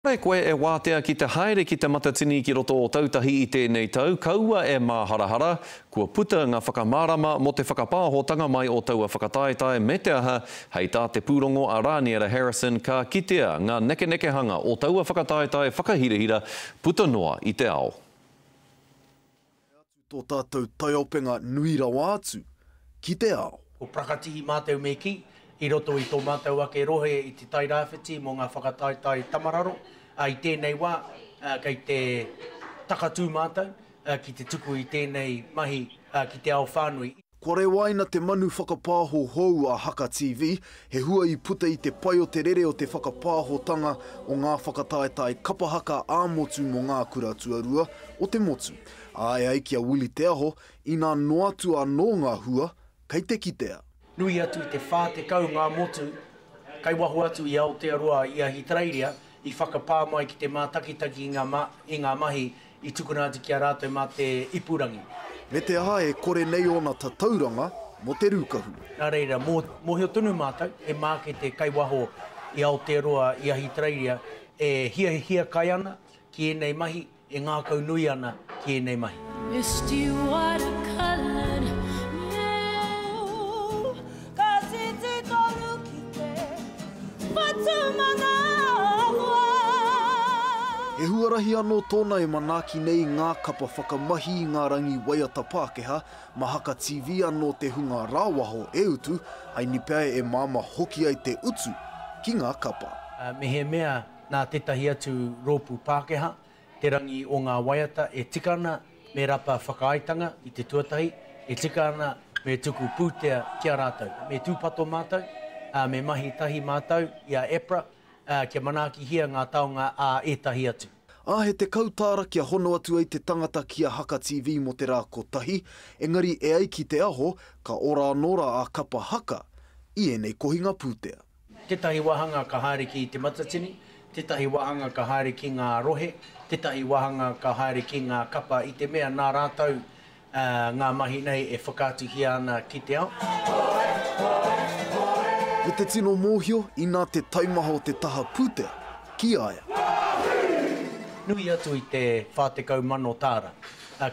Kore koe e wātea ki te haere ki te matatini ki roto Ōtautahi i tēnei tau, kaua e māharahara, kua puta ngā whakamārama mō te whakapāhotanga mai o taua whakataetae me te aha, hei tā te pūrongo a Rāniera Harrison ka kitea ngā nekenekehanga o taua whakataetae whakahirahira puta noa i te ao. Tae atu tō tātou taiopenga nui rawa atu ki te ao. Ko Prakatihi mātou me kī, i roto i tō mātou ake rohe i Te Tai Rāwhiti mō ngā whakataetae tamararo, ā, i tēnei wā, ā, kei te takatū mātou, ā, ki te tuku i tēnei mahi, ā, ki te ao whānui. Kua rewaina te manu whakapāho hou a Haka TV, he hua i puta i te pai o te rere o te whakapāhotanga o ngā whakataetae kapa haka ā-motu mō ngā kura tuarua o te motu. Āe ai ki a Willie Te Aho, inā noatu anō ngā hua, kei te kitea. Nui atu i te 40 ngā motu kai waho atu i Aotearoa, i Ahitereiria, i whakapā mai ki te mātakitaki i ngā mahi I tukuna atu ki a rātou mā te ipurangi. Me te aha e kore nei ōna tatauranga mō te rūkahu. Nā reira, mōhio tonu mātou, he mākete kai waho i Aotearoa, i Ahitereiria, e hiahiakai ana ki ēnei mahi, e ngākau nui ana ki ēnei mahi. Ka titi tonu ki te whatumanawa. He huarahi anō tōna e manaaki nei i ngā kapa whakamahi i ngā rangi waiata Pākehā, mā Haka TV anō te hunga rāwaho e utu ai ni pea e māmā hoki ai te utu ki ngā kapa. Mehemea nā tētahi atu rōpū Pākehā Te rangi o ngā waiata e tika ana me rapa whakaaetanga i te tuatahi, e tika ana me tuku pūtea ki a rātou. Me tūpato mātou, ā, me mahi tahi mātou i a EPRA, ā, kia manaakihia ngā taonga ā ētahi atu. Ā, he tekau tāra kia hono atu ai te tangata ki a Haka TV mō te rā kotahi, engari e ai ki te aho, ka ora anō rā a Kapa Haka i ēnei kohinga pūtea. Tētahi wāhanga ka haere ki Te Matatini, tētahi wāhanga ka haere ki ngā rohe, tētahi wāhanga ka haere ki ngā kapa i te mea nā rātou ngā mahi nei e whakaatuhia ana ki te ao. Me te tino mōhio inā te taimaha o te taha pūtea ki a ia. Nui atu i te whā tekau mano tāra,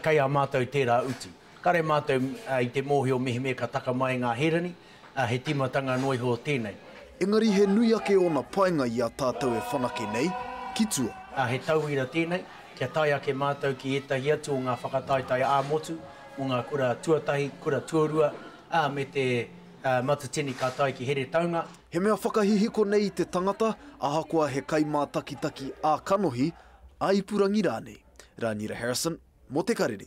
kei a mātou tērā utu. Kare mātou i te mōhio mehemea ka taka mai ngā hērani, ā, he tīmatanga noa iho tēnei. Engari he nui ake ōna painga i a tātou e whanake nei, ki tua. Ā, he tauira tēnei, kia tae ake mātou ki ētahi atu o ngā whakataetae ā-motu mō ngā kura tuatahi, kura tuarua, ā, me te Matatini ka tae ki Heretaunga. He mea whakahihiko nei i te tangata, ahakoa he kaimātakitaki ā-kanohi, ā-ipurangi rānei. Rānira Harrison, mō Te Karere.